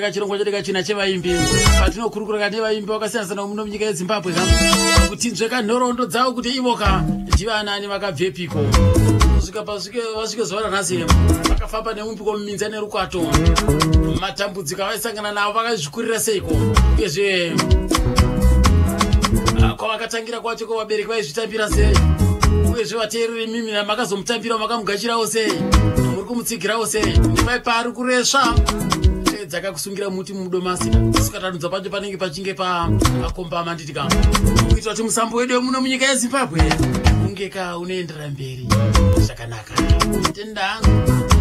Ka chirongwa chedu kachina chevaimbi patinokurukura ka nevaimbi vakasiyana sana muno munyika yezimbabwe ka kuti nzveka nhoroondo dzavo kuti ivo ka ndivanani vakabvepiko kusvika pasvike vasvike zuva ranhasi vakafamba nemumpiko muminza nerukwato matambudziko avaisangana navo vakazvikurira seiko uyezve ah, kwavakatangira kwacho ko vabereki vaizvitambira sei uyezve vateereri mimi makazomutambira makamugashirawo sei muri kumutsi igirawo se ndivai paari kuresva eh, dzakakusungira muti mudomasi sukatanudza pacho panenge pachinge paakombama nditi ka kuitira kuti musambo wedu wemuno munyika yezimbabwe unge ka unoendera mberi zvakanaka tendangu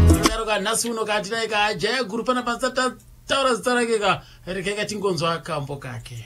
anodaro ka nhasi uno katinai ka jaya guru pana pasataura zita rake ka rekeka tingonzwa kambo kake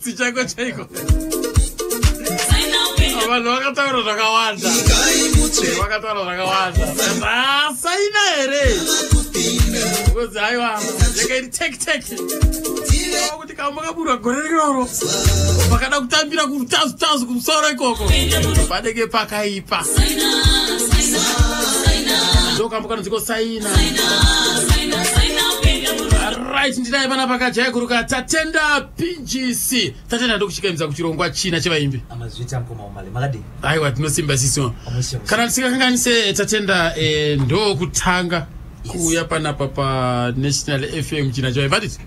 Tsi chaiko chaiko. Vanhu vakataura zvakawanda. Vakataura zvakawanda. Zvasaina here? Ngozi aiwa. Yakairi tek tek. Kuti kamba kaburwa gore riroro. Pakada kutambira kutazu tazu kumusoro ikoko. Padege pakaipa. Ndokambo kanonziko saina. Right ndinaye pana pakajaiguruka tatenda pgc tatenda ndokuchikaimisa kuchirongwa china chevaimbi aiwa tinosimba siso kana tisingakanganise tatenda e, ndokutanga kuuya panapa panational fm china chavaimbi atiti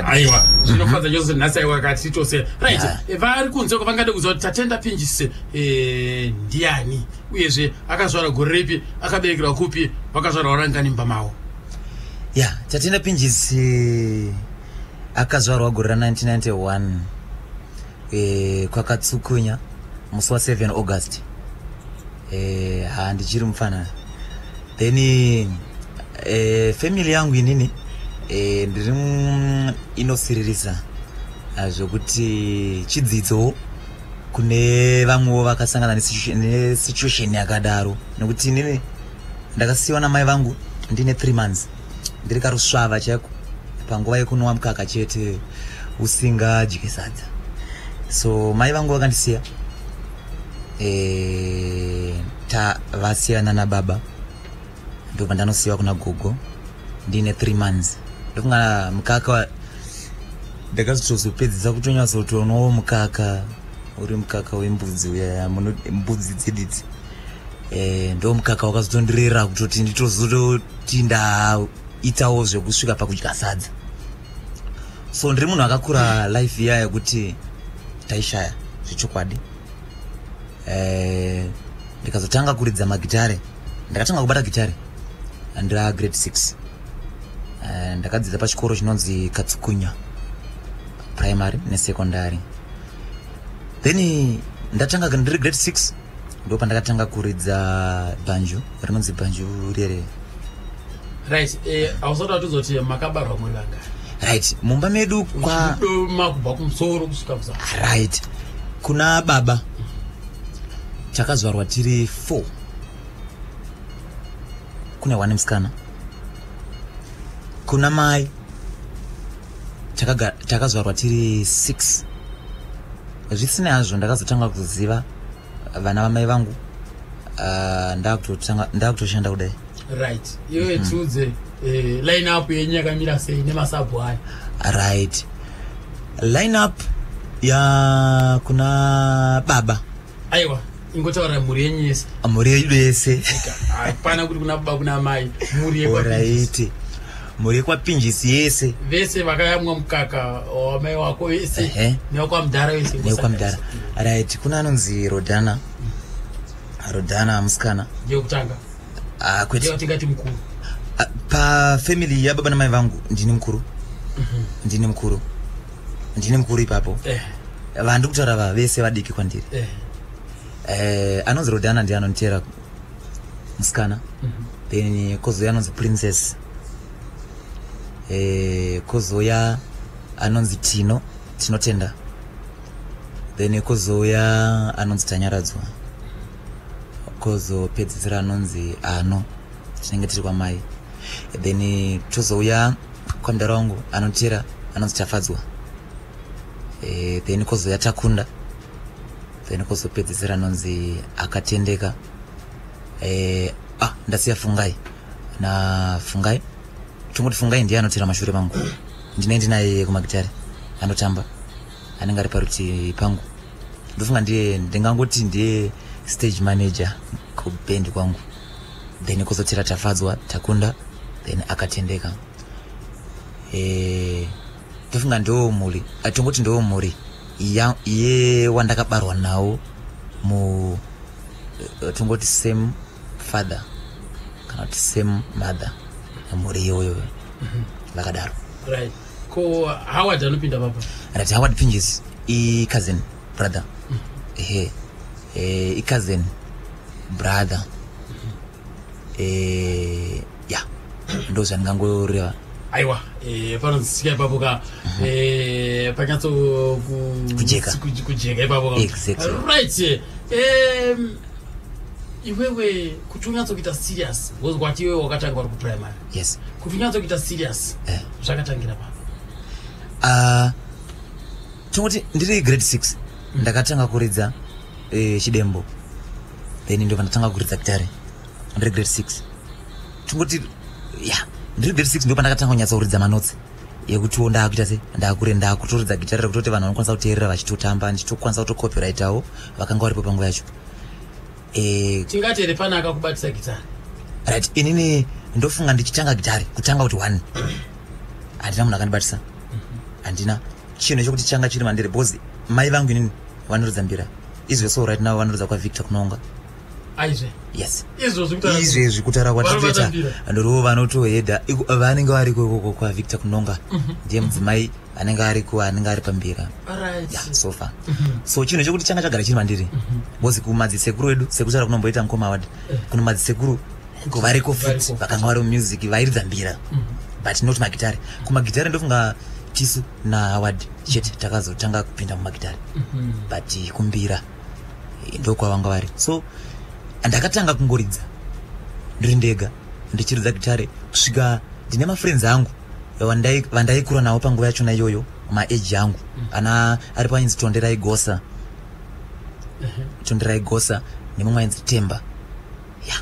aiwa zvinofadza chose nhasi aiwa kati tose rit e, vari kunze ko vangade kuziva kuti tatenda pgc e, ndiani uyezve akazvara gore ripi akaberekerwa kupi vakazvarwa rangani mbamavo ya tatenda pinjisi akazvarwa gore ra 1991 e, eh, kwakatsukunya musi wa 7 august e, eh, handichiri mupfanana then e, eh, family yangu inini e, ndiri inosiririsa ah, zvekuti chidzidzo kune vamwewo vakasangana nesituation yakadaro nekuti inini ndakasiyiwa namai vangu ndine three months ndiri karusvava chaiko panguva yekunwa mukaka chete usingadye sadza so mai vangu vakandisiya e, tavasiyana nababa ndobva ndanosiyiwa kuna gogo ndine three months ndokungana mukaka ndakazotozopedzisa kutonyatsotonowo mukaka uri mukaka wembudzi uya mbudzi dzididzi eh, ndo mukaka wakazotondirera kutoti nditozototi ndaitawo zvekusvika pakudya sadza so ndiri munhu akakura life iya yekuti taishaya zvechokwadi eh, ndikazotanga kuridza magitare ndakatanga kubata gitare andira grade six eh, ndakadzidza pachikoro chinonzi katsukunya primary nesecondary then ndatanga ndiri grade six ndo pandakatanga kuridza bhanju rinonzi bhanju rere right eh, ausati watizoti makabarwa muri vanga right mumba medu kwamakubva kumusoro kusvika kuza right kuna baba takazvarwa tiri four kune one musikana kuna mai takazvarwa tiri six zvisinei hazvo ndakazotanga kuziva vana vamai vangu ah, ndakutoshanda kudai right iwe mhm. tiudze eh, line up yenyu yakamira sei nemasabhu aya right line up ya kuna baba aiwa ingotaura mhuri yenyu yese ah, mhuri yedu yese hapana kuti kuna baba kuna mai mhuri yekwaiti mhuri yekwapinjisi yese vese vakayamwa mukaka wamai wako vese newakwamdhara wese newakwamdhara right kuna anonzi rodhana rodhana musikana yekutanga ah, kwetiatingati mukuru ah, pafamily yababa namai vangu ndini mukuru mhm. ndini mukuru ndine mukuru ipapo eh. vandiri kutaura vava vese vadiki kwandiri eh. eh, anonzi rodana ndiye anonditeera musikana mhm. then kozouya anonzi princess eh, kozouya anonzi tino tinotenda then kozouya anonzi tanyaradzwa kozopedzisira anonzi ano tinenge tiri kwamai then tozouya Kwandara wangu anotera anonzi Tafadzwa e, then kozouya Takunda then kozopedzisira anonzi Akatendeka e, ah, ndasiya Fungai na Fungai tongoti Fungai ndiye anotera mashure mangu ndine ndinaye kumagitare anotamba anenge ari parutivi pangu ndofunga ndiye ndingangoti ndiye stage manager kubhendi kwangu then kuzotira tafadzwa takunda then akatendeka eh, ndofunga e, ndoo mhuri atongoti ndoo mhuri ye wandakabarwa nawo mu eh, tongoti same father kana kuti same mother mhuri iyoyo mhm. vakadaro right ko howard anopinda papa rati howard pinjis i cousin brother ehe eh, icousin brother eh, ya ndo zvandingangoreva aiwa eh, panonzisika ipapo ka mhm. eh, panyatso kujeka kujeka ipapo ka exactly right eh, iwewe kuti unyatso kuita serious wozwa kuti iwewe wakatanga vari kuprimary yes kuti unyatso kuita serious eh. zvakatangira papo ah, tinoti ndiri grade six ndakatanga kuridza eh, chidembo then ndobva ndatanga kuridza gitare ndiri grade six tingoti ya ndiri grade six ndopa ndakatanga kunyatsa kuridza manotsi yekutiwo ndaakuita se ndaakure ndaakutoridza gitare rekutoti vanhu vanokwanisa kuteerera vachitotamba ndichitokwanisa kutocopyrightavo vakanga varipo panguva yacho Eh, tingati here pane akakubatisa gitare right inini ndofunga ndichitanga gitare kutanga kuti one handina munhu akandibatisa handina chinhu chekuti changa chiri mandiri because mai vangu inini vanoridza mbira izve so right now vanoridza kwavictor kunonga yes izvezvi kutaura kwatatoita ndorivo vanotoheda vanenge vari kokoko kwavictor kunonga mhm. ndiye mudzimai anenge ari ku anenge ari pambira so far mhm. so chinhu chekuti changa chagara chiri mandiri mhm. because kumadzisekuru edu sekutaura kunomboita mukoma wadi eh. kunomadzisekuru ko variko futi vakanga vari mumusik vairidza mbira mm. but not magitare kumagitare ndofunga tisu nahaward chete takazotanga kupinda mumagitare mm-hmm. but kumbira eh, ndokwavanga vari so ndakatanga kungoridza ndiri ndega ndichiridza gitare kusvika ndine mafriends angu vandaikura navo panguva yachona iyoyo maage angu mm. ana ari painzi tonderai gosa mm-hmm. tonderai gosa nemumwe ainzi temba ya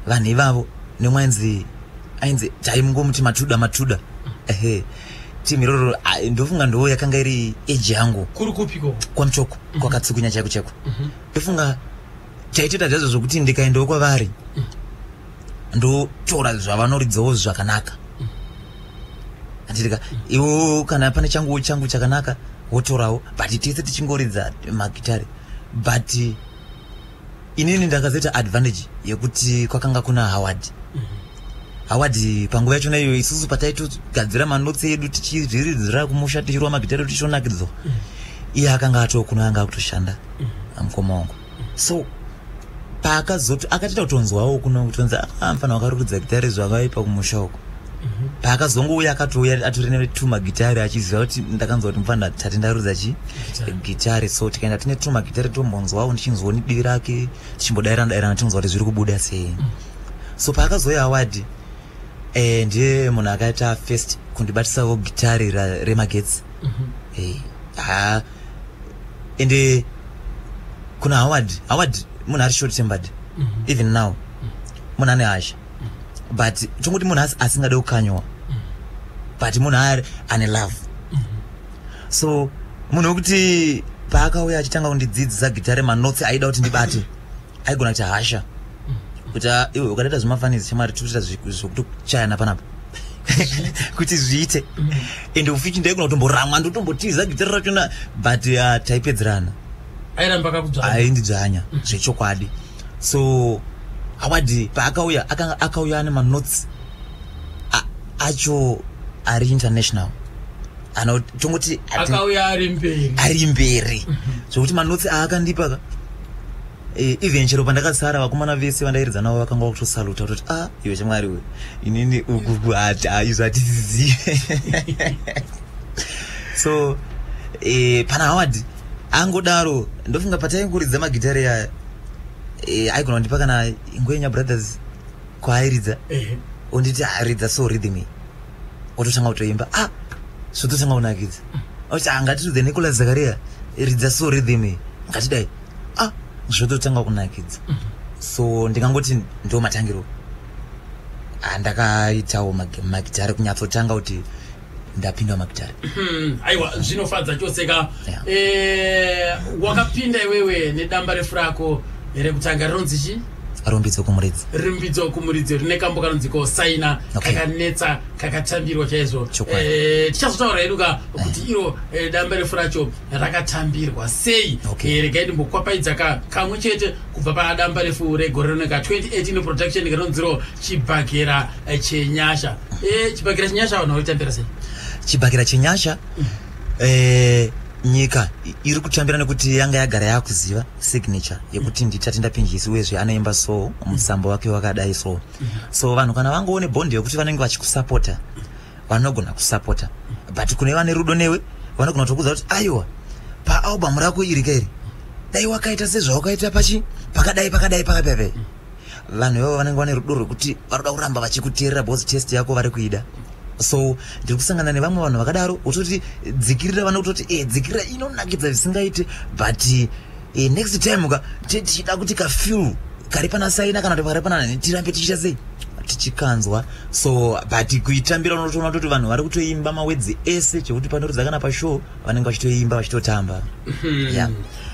vanhu ivavo nemwe ainzi ainzi taimungomuti matuda matuda ehe timu iroro ndofunga ndoo yakanga iri eji yangu kuri kupiko kwamuchoko mhm. kwakatsukunya chaiko chaiko mhm. ndofunga chaitoita zvazo zvokuti ndikaendawo kwavari mhm. ndotora zvavanoridzawo zvakanaka anditika iwo kana pane changuwo changu chakanaka wotorawo but tese tichingoridza magitare but inini ndakazoita advantage yekuti kwakanga kuna howard mm -hmm hawadi panguva yacho naiyo isusu pataitogadzira manotsi edu tichizviridzira kumusha tichirwa magitari tichionakidzo mm. iye akanga atoo kuno anga akutoshanda mm. amukoma wangu mm. so paakazoti akatita kutonzwawo kuno kutonzi amfana ah, wakarukidza gitari zvakaipa kumusha uko paakazongouya akatouya atori netumagitari achiziva kuti ndakanzwa kuti mufana tati ndarudza chi gitari so tikaenda tine tumagitari tombonzwawo ndichinzwa nedivi rake tichimbodairana dairana tichinzwa kuti zviri kubuda sei mm. so paakazouya awadi eh, ndiye munhu akaita first kundibatisawo gitari remagetsi mhm. eh, ha ende kuna howard howard munhu ari short tembered mhm. even now mhm. munhu ane hasha but tongoti munhu asingade kukanywa but munhu ari ane love so munhu wekuti paakauya achitanga kundidzidzisa gitare manotsi aida kuti ndibate aigona kuti hasha kuti ah, iwe ukadaita zvemafanisi chamari tikuita zvekutochayana panapa kuti zviite mm. ende ufichi ndaigona kutomboramwa ndotombotiza gitare rachona but ah, taipedzerana airamba akakudzvanya aindidzvanya zvechokwadi so awadi paakauya akauya ane manotes acho ari international anotongoti akauya ari mberi ari mberi mhm. zvokuti manotsi aakandipa ka e, even chero pandakasara vakomana vese vandairidza navo vakanga vakutosaluta kutoti a ah, iwe chamwari we inini ukuku hati aizvo ah, hatisizive so e, pana hawadi angodaro ndofunga pataingoridza magitare aya e, aigona kundipa kana ingwenya brothers kwaairidza onditi aridza so rhythm iyi ototanga kutoimba a ah, zvototanga kunakidza oti angatidze ah, nicolas zakaria ridza so rhythm iyi ngatidai a ah, zvototanga kunakidza so ndingangoti ndo matangiro andakaitawo magitare kunyatsotanga kuti ndapindwa makitari hmm, aiwa zvinofadza chose ka eh, wakapinda iwewe nedamba refu rako rekutanga rinonzi chii rumbidzo kumuridzi rumbidzo kumuridzi rine kambo kanonzi kosaina kakanetsa kakatambirwa chaizvo eh, tichazotaura hedu ka eh. kuti iro eh, damba refu racho rakatambirwa sei regai ndimbokwapaiza ka kamwe chete kubva padamba refu regore rino ka 2018 production rinonziro chibhagera Eh, chenyasha eh, chibakira chenyasha vanhu vaitambira sei chibakira chenyasha eh, nyika i- iri kutambira nekuti yanga yagara yakuziva signature yekuti nditati ndapinjisi uyezve anoimba so musambo wake wakadai so so vanhu kana vangoone bond yekuti vanenge vachikusapota vanogona kusapota but kune vane rudo newe vanogona kutokuudza kuti aiwa paalbum rako iri kairi dai wakaita sezvawakaita pachi pakadai pakadai pakadai vanhu ivavo vanenge vane rudo rwekuti vanoda kuramba vachikuteerera bos test yako vari kuida so ndiri kusangana nevamwe vanhu vakadaro utoti dzikirira vane kutoti e eh, dzikirira inonakidza zvisingaite but e, next time ka tichida kuti kafil kari pana saina kana kuti pakari pana nani tirambe tichiita sei tichikanzwa so but kuitambira unotoona toti vanhu vari kutoimba mawedzi ese chekuti panoridza kana pashow vanenge vachitoimba vachitotamba mm -hmm. yeah.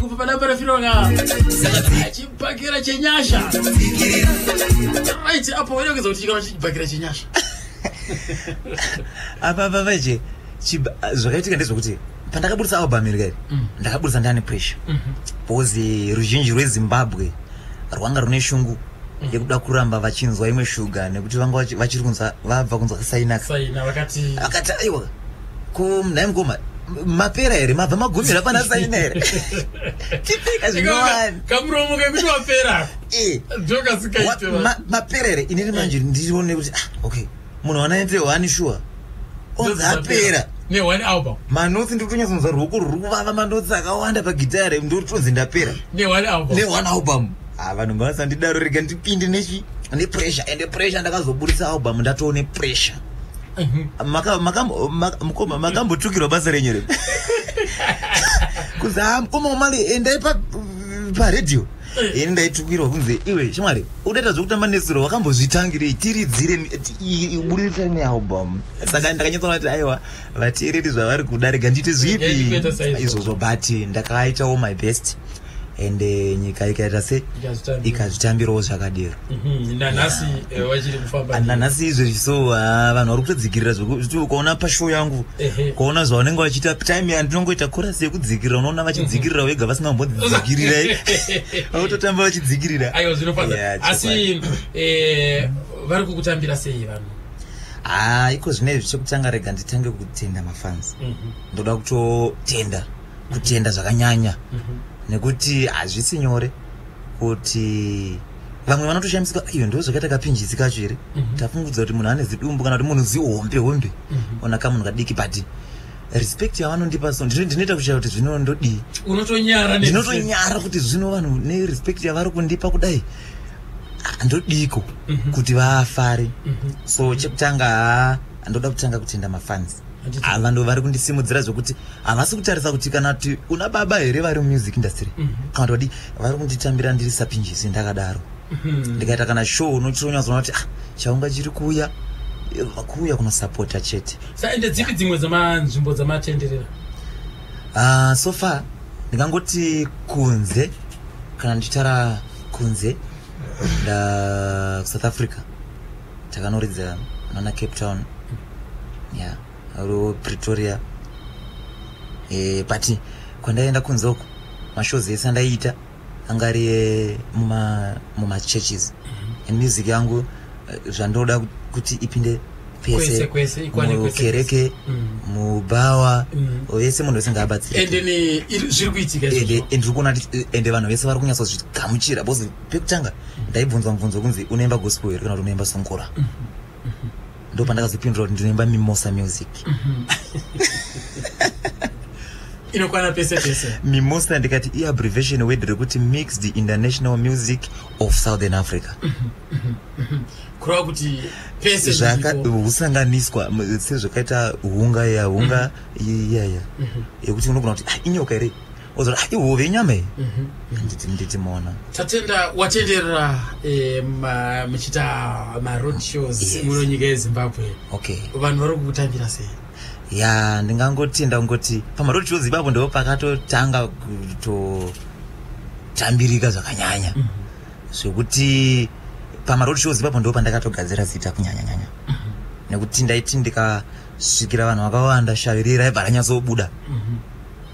kubva pana parafirona chibhakera chenyasha right apo waida kuedza kuti chikava chibhakera chenyasha apa vavaje zvakaitika ndezvekuti pandakabudisa album iri kairi mm. ndakabudisa ndane pressure mhm. because eh, ruzhinji rwezimbabwe rwanga rune shungu mm. yekuda kuramba vachinzwa imwe shuga nekuti vanga vachiri kunzwa vabva kunzwa kasainaka vakati aiwa ko nhai mukoma mapera here mabva magumira pana saina here tipika zvinowani kamuromo kekuti wapera eh. ndokasikaite mapera here inini manje ndirione kuti ah, okay munhu wanaite wani shuwa onzi apera nehone album manotsi ndiri kutonyatsonzwa ruoko ruri kuvava manotsi akawanda pagitare ndiri kutonzi ndapera nehone album ha ah, vanhu ngavasandidaro rega ndipinde nechi nepressure ende pressure ndakazoburitsa album ndatoo nepressure mhm. mukoma makambotukirwa basa renyu re kunzi ha ah, mukoma wamali endai paredio eh. ini ndaitukirwa kunzi iwe shamwari udaita zvekutamba nesiro wakambozvitangirei tiridzire budirisa nealbum saka ndakanyatsoona kuti aiwa vateereri zvavari kuda rega ndiite zvipi izvozvo but ndakaitawo my best and eh, nyika ikaita se ikazvitambirawo zvakadero mhm, nanhasi eh, wachiri kufamba ah, nanhasi izvezvi so ah, vanhu vari kutodzikirira zvekuti ukaona pashow yangu ukaona zvavanenge vachiita time yandinongoita korasi yekudzikirira unoona vachidzikirira mhm. vega vasina kumbodzidzikirira vakutotamba vachidzikirira aiwa zvinofaa asi eh, vari kukutambira sei vanhu haa ah, iko zvinei zvichekutanga rega nditange kutenda mafans mhm. ndoda kutotenda kutenda zvakanyanya nekuti hazvisi nyore kuti vamwe vanotoshandiswa iyo ndo zvakaita kapinjisi kacho here mhm. tafungudza kuti munhu ane zidumbu kana kuti munhu zihombe hombe mhm. ona kamunhu kadiki but respect yavanondipa so ndinoita kuchaya kuti zvino ndodii ndinotonyara kuti zvino vanhu nerespect yavari kundipa kudai ah, ndodiko mhm. kuti vafare so chekutanga ndoda kutanga kutenda mafansi ava ndo vari kundisimudzira zvekuti havasi kutarisa kuti kana kuti una baba here vari mumusik industry mhm. kana kuti vadii vari kunditambira ndiri sapinjisi ndakadaro mhm. ndikaita kana show unochitonyatsoona kuti ah, chaunga chiri kuuya kuuya kunosapota chete saende dzipi dzimwe dzemanzvimbo dzamatenderera ah, so far ndingangoti kunze kana ndichitara kunze ndakusouth africa takanoridza nana cape town ya ro pretoria e, but kwandaienda kunze uko mashows ese andaiita anga ari mumachurches muma mm -hmm. and music yangu eh, zvandoda kuti ipinde pese mukereke mm. mubhawa mm. vese munhu vese ngaabatsirendiri kuitika ende vanhu vese vari kunyatsozvigamuchira pekutanga ndaibvunzwa mubvunzo kunzi unoimba gospel here kana kuti unoimba songora ndo pandakazopindura kuti ndinoimba mimosa music inokwana pese pese mimosa ndikati iabrevation word rekuti mixed international music of southern africa kureva kuti pese zvakahusanganiswa sezvakaita hunga ya hunga iyaya mhm. yekuti unogona kuti ah, inyoka here ozora ah, ihove inyama iyi mhm. ndidzimona tatenda watenderera eh, muchiita maroad shows muno nyika yezimbabwe okay vanhu vari kukutambira sei ya ndingangoti ndangoti pamaroad shows ipapo ndo pakatotanga kutotambirika zvakanyanya mhm. zvekuti pamaroad shows ipapo ndo pandakatogadzira zita kunyanyanyanya mhm. nekuti ndaiti ndikasvikira vanhu vakawanda shavirira ibva ranyatsobuda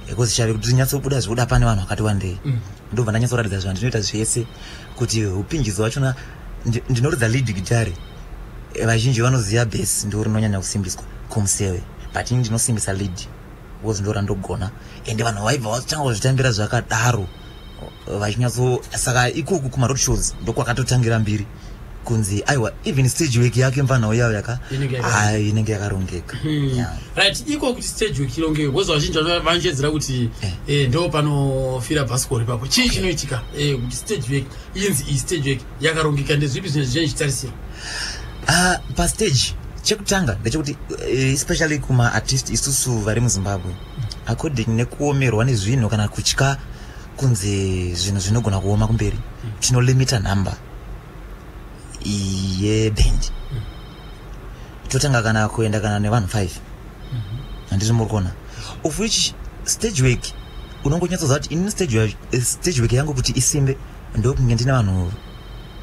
because chave kuti tinyatsobuda zvokuda pane vanhu vakati wandei mm. ndobva ndanyatsoratidza zvanhu ndinoita zvese kuti upinjidzo wachona ndinoridza lead gitari eh, vazhinji vanoziva base ndo rinonyanya kusimbiswa kumuseve but ini ndinosimbisa lead because ndorandogona ende vanhu vaibva vatanga kuzvitambira zvakadaro vachinyatso saka ikoku kumaroad shows ndokwakatotangira mbiri kunzi aiwa even stage work yake mfanhawo yayo yaka inenge yakarongeka hmm. right iko kuti stage work ironge wozva vazhinji vanochedzera kuti eh. Eh, ndo panofira bhasikoro ipapo chii chinoitika eh, kuti stage work inzi iyi stage work yakarongeka ndezvipi zvine zvichine zvichitarisira ah, pastage chekutanga ndechekuti especially kumaartist isusu vari muzimbabwe according nekuomerwa nezvinhu kana kutya kunzi zvinhu zvinogona kuoma kumberi tinolimita number yeband totanga kana kuenda kana nevanhu five handizvo muri kuona of which stage work unongonyatsoziva kuti ini eh, stage work yangu kuti isimbe ndokunge ndine vanhu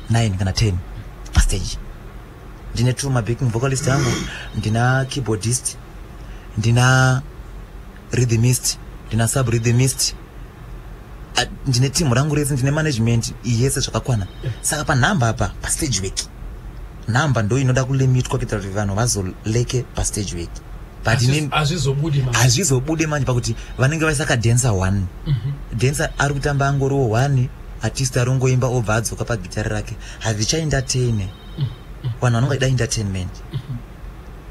nine kana ten pastage ndine two mabacking vocalist angu ndina keyboardist ndina rhythmist ndina sub rhythmist ndine team rangu rese ndine management yese zvakakwana saka panhamba apa pastage work nhamba ndo inoda kulimitwa kuitira kuti vanhu vazoleke pastage work hazvizobude manje pakuti vanenge vaisaka dancer one mhm. dancer ari kutamba angoriwo one artist arongoimba obva adzoka pagitari rake hazvichaendatene vanhu vanonga ida entertainment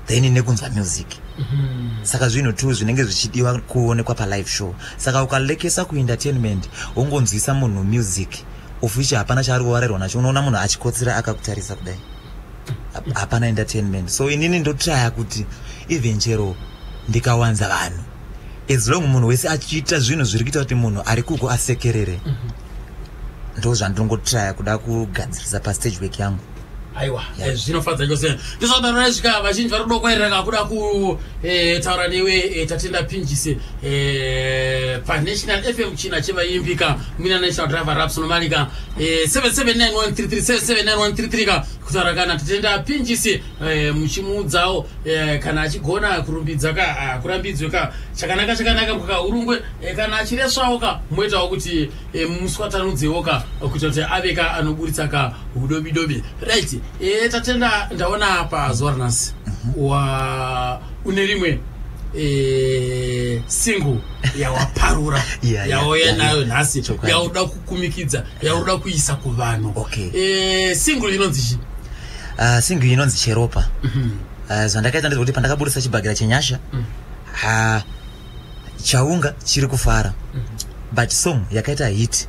then nekunzwa music mm-hmm. saka zvinhu two zvinenge zvichidiwa kuonekwa palive show saka ukalekesa kuentertainment wongonzwisa munhu music of which hapana chaari kuvarairwa nacho unoona munhu achikotsira akakutarisa kudai hapana entertainment so inini ndotraya kuti even chero ndikawanza vanhu as long munhu wese achiita zvinhu zviri kuita kuti munhu ari kuko asekerere mm -hmm ndo zvandinongotraya kuda kugadzirisa pastage work yangu aiwa eh, zvinofadza chose ndizvadaro raisvika vazhinji vari kuda kwairaka kuda kutaura eh, newe eh, tatenda pinjise panational fm china chevaimbika mina national driver raps nomarika 779133 ka kutaura kana tatenda pinjise Eh, muchimuudzawo eh, kana achigona kurumbidza ka ah, kurambidzwe ka chakanaka chakanaka kukaurungwe eh, kana achireswawo ka moitawo kuti muswatanudzewo ka kuita kuti ave ka anoburitsa ka udobidobi right tatenda ndaona pa zuva ranhasi mhm. wa une rimwe single yawaparura yauya nayo nhasi yauda kukumikidza yauda kuisa kuvanhu single inonzi chii Ah, single inonzi cheropa Mhm. Ah, zvandakaita ndezvekuti pandakaburitsa chibhagera chenyasha Mm. ha chaunga chiri kufara but song yakaita hit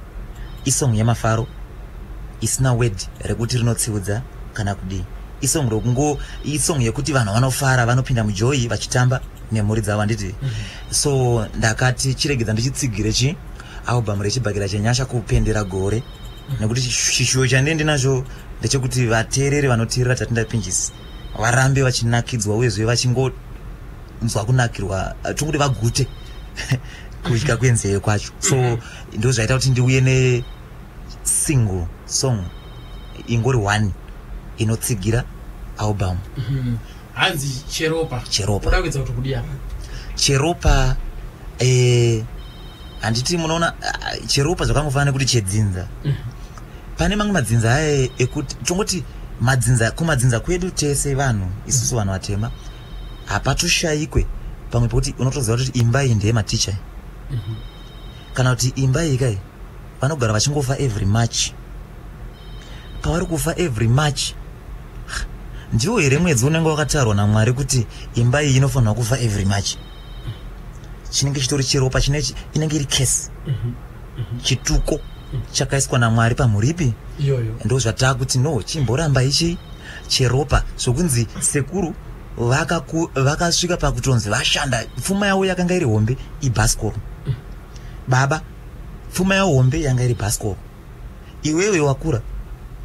isong yemafaro isina word rekuti rinotsiudza kana kudii isong rokungo isong yekuti vanhu vanofara vanopinda mujoyi vachitamba nemhuri dzavo handiti so ndakati chiregedza ndichitsigire chi album rechibhagera chenyasha kupendera gore nekuti chishuwo chandie ndinacho ndechekuti vateereri vanoteerera tatindapinjisi varambe vachinakidzwa uyezve vachingonzwa kunakirwa eh, tikuti vagute kudya kwenzeye kwacho so mm-hmm. ndo zvaita kuti ndiuye nesingle song ingori one inotsigira album mm-hmm. hanzi cheropa cheropa cheropa eh, handiti munoona ah, cheropa zvakangofanana nekuti chedzinza mm. pane mamwe madzinza aye ekuti tongoti madzinza kumadzinza kwedu tese vanhu isusu vanhu vatema hapatoshayikwe pamwe pokuti unotoziva kuti imba iyi ndeye maticha mm -hmm. kana kuti imba iyi kai vanogara vachingofa every march pavari kufa every march ndiwo here mwedzi unenge wakatarwa namwari kuti imba iyi inofanirwa kufa every march chinenge chitori cheropa chinechi inenge iri kesi mhm, mhm. chituko chakaiswa namwari pamhuripi iyoyo ndo zvataa kuti no chimboramba ichi cheropa zvokunzi sekuru vakasvika vaka pakutonzi vashanda pfuma yavo yakanga iri hombe ibhasikoro mm. baba pfuma yavo hombe yanga iri bhasikoro iwewe wakura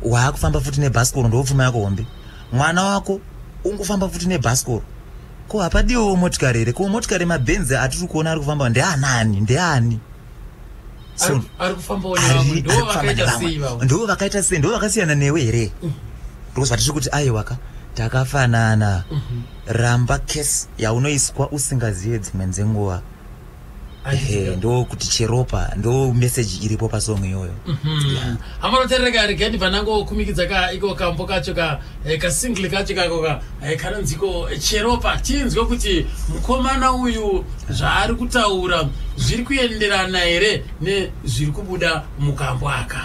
waakufamba futi nebhasikoro ndopfuma yako hombe mwana wako ungufamba futi nebhasikoro ko hapadiwewo motikari here ko motikari mabhenzi atiri kuona ari kufamba ndeanani ndeani ndo vakaita sei ndo vakasiyana newe here mm. because vatiri kuti aiwaka takafanana mhm. ramba case yaunoiswa usingazive dzimwe dzenguva ehe ndo kuti cheropa ndo meseji iripo pasong iyoyo mhm. amanoterereka ari gadi panangokumikidza ka iko kambo kacho ka eh, kasingli kacho kako ka eh, kanonziko eh, cheropa tinzwe kuti mukomana uyu zvaari kutaura zviri kuenderana here nezviri kubuda mukambo aka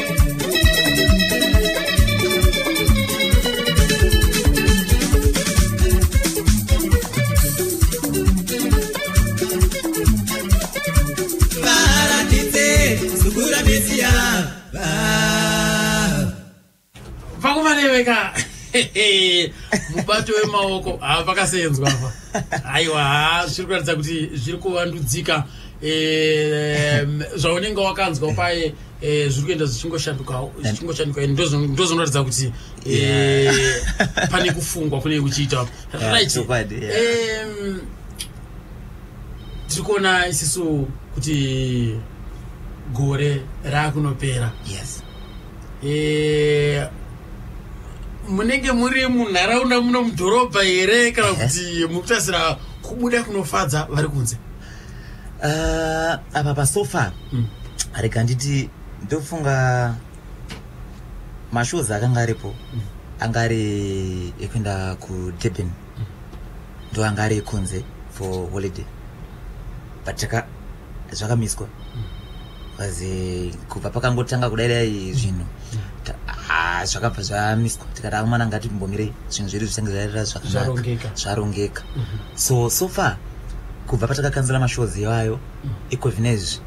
vakuvaneveka mubato wemaoko haa pakasenzwa apa aiwa haa zviri kuratidza kuti zviri kuvandudzika zvaunenge wakanzwa paye Eh, zviri kuenda zvichingoshandukawo zvichingoshanduka and ndozo- ndozonoratidza kuti eh, pane kufungwa kunenge kuchiita Yeah, right chokwadi, yeah. Em, tiri kuona isisu kuti gore raakunopera yes Eh, munenge muri munharaunda muno mudhorobha here kana kuti mukutasira kubuda kunofadza vari kunze uh, apa pasofa mm. rega nditi ndofunga mashows akanga aripo mm. anga ari ekuenda kudurban mm. ndo anga ari ekunze for holiday but zvakamiswa mm. aze kubva pakangotanga kudai dai zvinhu ah, zvakabva zvamiswa tikati akomana ngati mbomirei zvinhu zvedu zvichange zvaerera zvakanaka zvarongeka mhm. so so far kubva patakakanzira mashows iwayo mhm. iko zvinezvi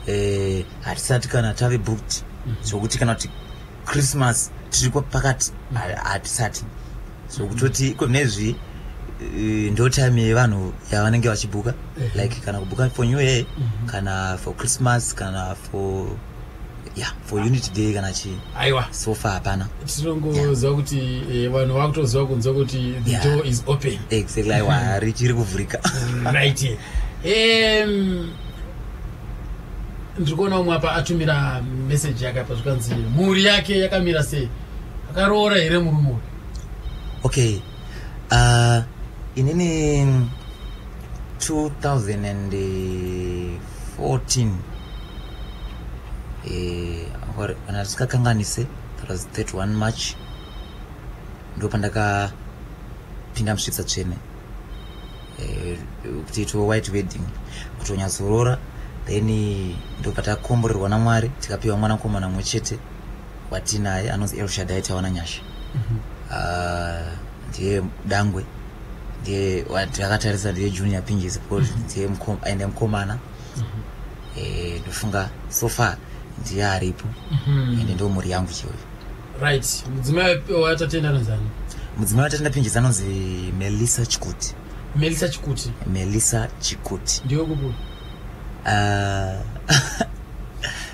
eh, hatisati kana tave booked mhm. zvokuti kana kuti christmas tiri pakati hatisati so kutoti iko nezvi eh, ndo time yevanhu yavanenge vachibhuka like kana kubhuka for new year mhm. kana for christmas kana for yeah for unity day kana chii aiwa so far hapana tinongoziva kuti eh, vanhu yeah. vakutoziva kunzwa kuti the yeah. door is open exactly aiwa mhm. richiri kuvhurika right um, ndiri kuona umwe apa atumira meseji yake apa zvikanzi mhuri yake yakamira sei akaroora here murume uyu okay uh, inini 2014 eh, kana tisingakanganise that was 31 march ndo pandakapinda musvitsa tsvene eh, kuti itiwe white wedding kuti unyatsoroora then ndobva takomborerwa namwari tikapiwa mwana mukomana mumwe chete watinaye anonzi elshadai tawana nyasha mhm. ah, ndiye dangwe ndiye takatarisa ndiye junior pinjisi because mhm. ndiye aende mukomana mhm. eh, ndofunga so far ndiye aripo ende ndo mhuri yangu cheuyo right mudzimai watatenda anonzani mudzimai watatenda pinjisi anonzi melissa chikuti melissa chikuti melissa chikuti ndiyo kuku ah,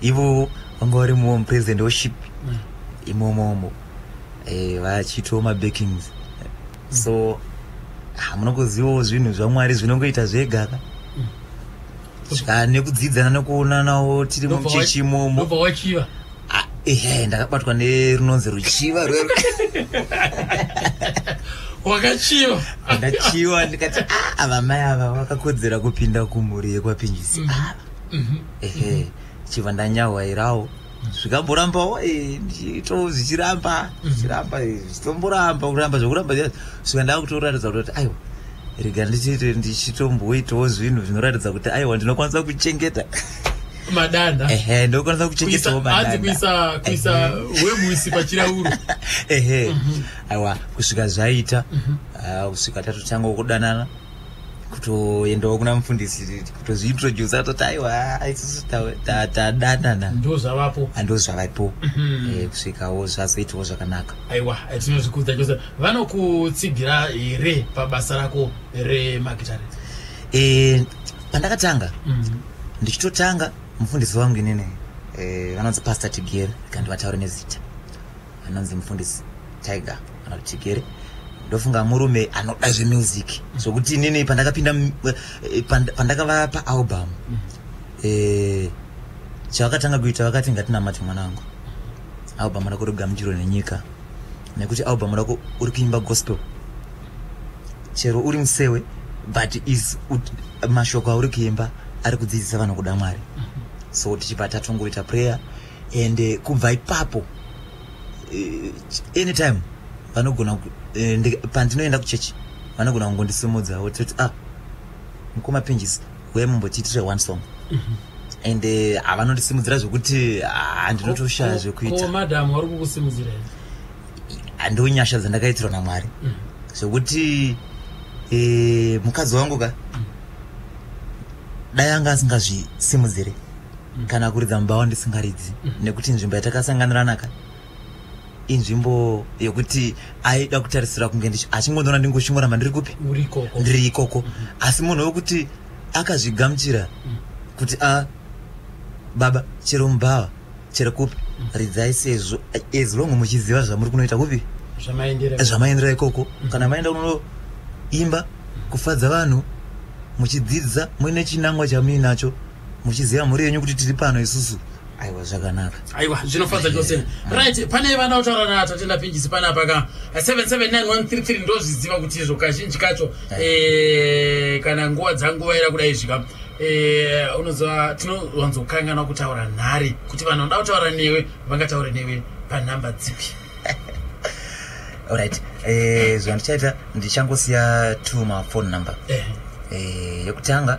ivo vanga vari muwo mupresident woship mm. imomomo eh, vachitiwo mabackings so hamunokuzivawo zvinhu zvamwari zvinongoita zvegaka mm. ska nekudzidzana nekuonanawo tiri muchechi imomo ah, ehe ndakabatwa nerunonzi ruchiva rwe wakachiva ndakachiva ndikati ah, avamai ava vakakodzera kupinda kumhuri yekwapinjisi mm. ava mhm. ehe chiva ndanyahwairawo zvikamborambawo eh, zviito zvichiramba zvichiramba eh, zvichitomboramba kuramba zvekuramba zviya svika ndakutoratidza kuti aiwa rega ndichiite ndichitomboitawo zvinhu zvinoratidza kuti aiwa ndinokwanisa kuchengeta madanda ehe ndinokwanisa kuchengetawo Kuisa- hanzi madanda kuisa kuisa wemuisi pachirauro ehe aiwa kusvika zvaita ah, kusvika tatotanga kudanana kutoendawo kuna mufundisi kutozviintroduce atoti aiwa isusu tadanana ndo zvavapo ando zvavaipo mhm. eh, kusvikawo zvazoitawo zvakanaka aiwa eh, tinozvikudza chose vanokutsigira here pabasa rako remagitare eh, pandakatanga mhm. ndichitotanga mufundisi wangu inini vanonzi pastor tigere kandi vataure nezita anonzi mufundisi tiger kana kuti chigere ndofunga murume anoda zvemusic zvokuti inini pandakapinda eh, pandakava paalbum eh, chavakatanga kuita vakati ngatinamati mwana wangu album rako regamuchiro nenyika nekuti album rako uri kuimba gospel chero uri musewe but is mashoko auri kuimba ari kudzidzisa vanhu kuda mwari so tichibva tatongoita prayer and uh, kubva ipapo uh, anytime vanogona uh, pandinoenda kuchechi vanogona kungondisimudza vototi ah mukoma pinjisi huye mumbotiitire one song mm -hmm and eh, havanondisimudzira zvekuti handinotoshaya ah, zvekuitamadam vari kukusimudzira handiwo nyasha dzandakaitirwa namwari mm. zvekuti eh, mukadzi wangu ka mm. dai anga asingazvisimudzire kana kuridza mumba wandisingaridzi mm. nekuti nzvimbo yatakasanganiranaka inzvimbo yekuti aida kutarisira kunge achingondiona ndingoshingora mandiri kupi ndiri ikoko mm-hmm. asi munhu wekuti akazvigamuchira mm. kuti a ah, baba chero mubhawa chero kupi mm. ridzai sezvo as long muchiziva zvamuri kunoita kupi zvamaendera ikoko mm-hmm. kana maenda kunoimba kufadza vanhu muchidzidza muine chinangwa chamuinacho muchiziva mhuri yenyu kuti tiri pano isusu aiwa zvakanaka aiwa zvinofadza chose right pane vana otaura na tatenda pingisi pana paka 779133 ndozviziva kuti izvo kazhinji kacho eh, kana nguva dzanguva ira kudai zvika eh, unoziva tinowanzokanganwa kutaura nhari kuti vanhu vanoda kutaura newe vangataure newe panhamba dzipi orit eh, zvandichaita ndichangosiya tuma phone number yekutanga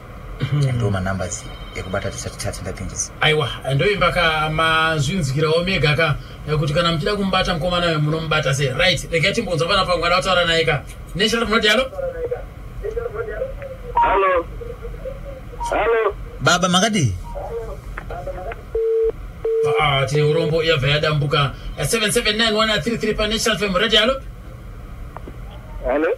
mm-hmm. ndo manumbers ekubata tisati tati ndapindisa aiwa ndoimba ka mazvinzwirawo mega ka kuti kana muchida kumubata mukomana uyo munomubata sei right regai timbonzwa pana pangwana wataura naye ka neshara munoti halo halo halo baba makadii ah, tine urombo yabva yadambuka 779133 panesalfem radio halo halo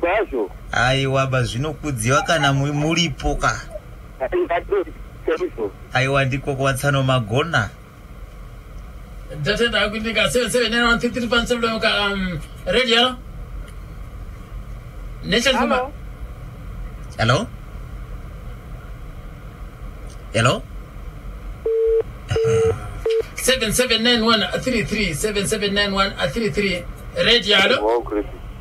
Kwazvo. Aiwa bazvinokudziwa kana muripo ka. Aiwa ndiko kuwatsano magona. Ndatenda akuitika 779133 ka um, radio. Nation Hello. Hello. Hello. 779133 779133 radio. Hello.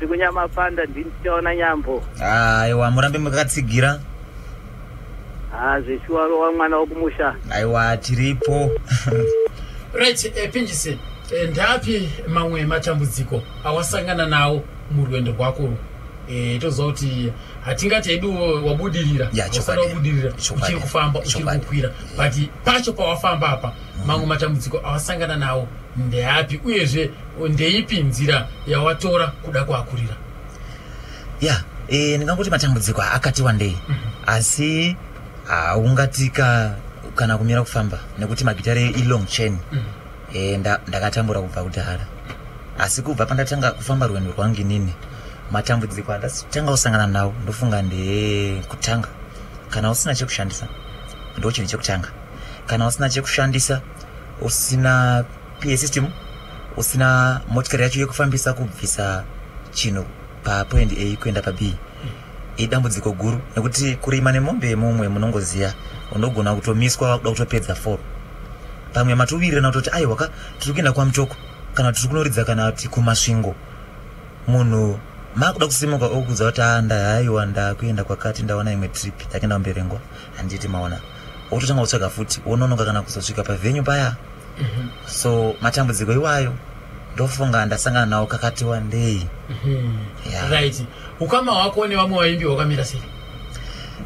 sekunyamapanda ndini tichaona nyambo aiwa murambe makatsigira haa zveshuwa rova mwana wokumusha aiwa tiripo right eh, pinjise eh, ndapi mamwe matambudziko awasangana nawo murwendo rwako urwu eh, toziva kuti hatingati hedu wabudirira Ya, chokwadi. Wasara wabudirira Chokwadi. uchiri kufamba uchiri Chokwadi. kukwira but pacho pawafamba apa mamwe matambudziko awasangana nawo ndeapi uyezve ndeipi nzira yawatora kuda kuakurira ya yeah, e, ndingangoti matambudziko akati wandei mm -hmm. asi haungatika kana kumira kufamba nekuti magitare ilong chain mm -hmm. e, nda, ndakatambura kubva kudhara asi kubva pandatanga kufamba rwendo rwangu inini matambudziko andatanga kusangana nawo ndofunga ndekutanga kana usina chekushandisa ndochinhu chekutanga kana usina chekushandisa usina PA system usina motikari yacho yekufambisa kubvisa chinhu papoendi A kuenda paB idambudziko guru nekuti kurima nemombe yemumwe munongoziva unogona kutomiswa wakuda kutopedza fo pamwe matuvirira nakutoti aiwa ka tiri kuenda kwamutoko kana tiri kunoridza kana kuti kumasvingo munhu makuda kusimuka okudza kuti a ah, ndahaiwa ndakuenda kwakati ndaona imwe trip yakuenda kumberengwa handiti maona wototanga kutsvaga futi wononoka kana kuzosvika pavenyu paya mhm. so matambudziko iwayo ndofunga ndasangana nawo kakati wandei mhm. right ukama hwako nevamwe vaimbi hwakamira sei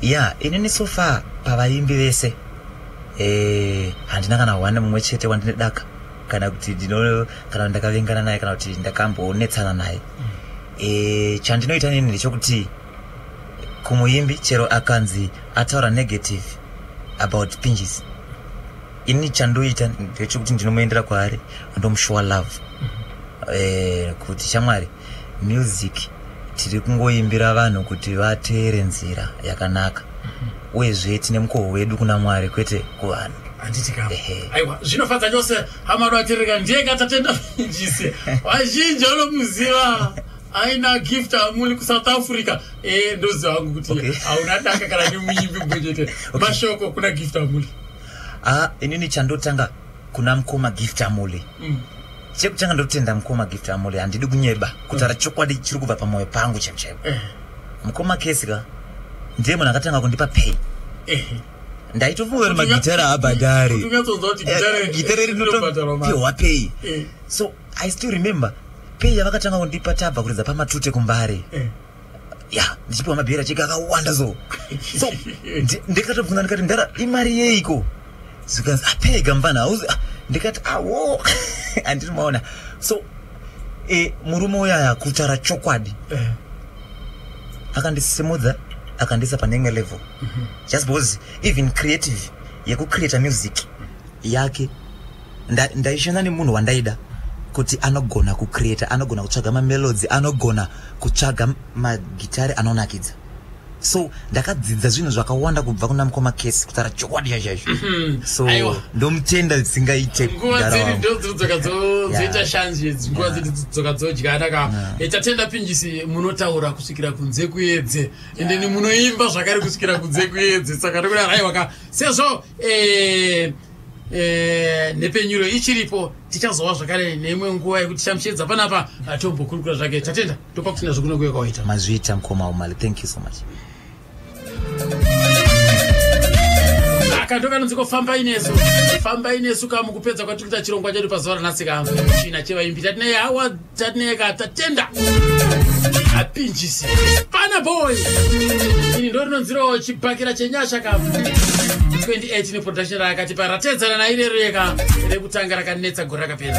ya inini so far pavaimbi vese eh, handina kana hwane mumwe chete wandine daka kana kuti ndino kana ndakavengana naye kana kuti ndakambonetsana naye mm. eh, chandinoita nini ndechokuti kumuimbi chero akanzi ataura negative about pinjisi ini chandoita ndechekuti ndinomuendera kwaari andomushuwa love eh, kuti shamwari music tiri kungoimbira vanhu kuti vateere nzira yakanaka uyezve tine mukoho wedu kuna mwari kwete kuvanhu handitika aiwa zvinofadza chose hama noatirika ndiye katatenda vazhinjise vazhinji vanomuziva aina gift amuli kusouth africa eh, ndoziva wangu kuti hauna daka kana nemuimbi mbonyete mashoko kuna gift amuli ah inini chandotanga kuna mkoma gift amule mm. chekutanga ndotenda mkoma gift amule handidi kunyeba kutara mm. chokwadi chiri kubva pamwoyo pangu chaipo chaipo eh. mkoma kesi ka ndiye munhu akatanga kundipa pay eh. ndaitofunga kuti magitara abhadhari eh, gitara eh, rinotopiwa pay eh. so i still remember pay yavakatanga kundipa tabva kuridza pamatute kumbare eh. ya ndichipiwa mabheri acheke akawanda so so ndikatobvunza ndikati mdara imari yeiko zvikanzi apega mvana hauzi ah, ndikati awo handiri maona so e, murume uyaya kutaura chokwadi eh. akandisimudza akandiisa pane imwe level mhm. just because even creative yekucreata music yake ndaishanda nda nemunhu wandaida kuti anogona kucreata anogona kutsvaga mamelodzi anogona kutsvaga magitari anonakidza so ndakadzidza zvinhu zvakawanda kubva kuna mukoma kesi kutaura chokwadi chaizvo mhm. so ndomutenda dzisingaite nguva dzedu ndodzoka dzoita shanzi idzi nguva dzedu dzoka dzodyana ka eh, tatenda pinjisi munotaura kusvikira kunze kuedze ende ni munoimba zvakare kusvikira kunze kuedze saka ndokuda raiwa ka sezvo eh, Eh, nhepfenyuro ichiripo tichazova zvakare neimwe nguva yekuti chamuchiedza panapa atombokurukura zvake tatenda topa kuti nazvo kunokuye kwawaita mazviita mukoma umali thank you so much kandokanonzi ko fambai nesu fambai nesu ka mukupedza kwatiri kuita chirongwa chedu pazuva ranhasi ka china chevaimbi tatinei hawa Tatneka tatenda apinjisi pana boy ini ndo rinonzirawo chibhakira chenyasha ka 28 neproduction raakatipa ratedzana nairero yeka rekutanga rakanetsa gore rakapera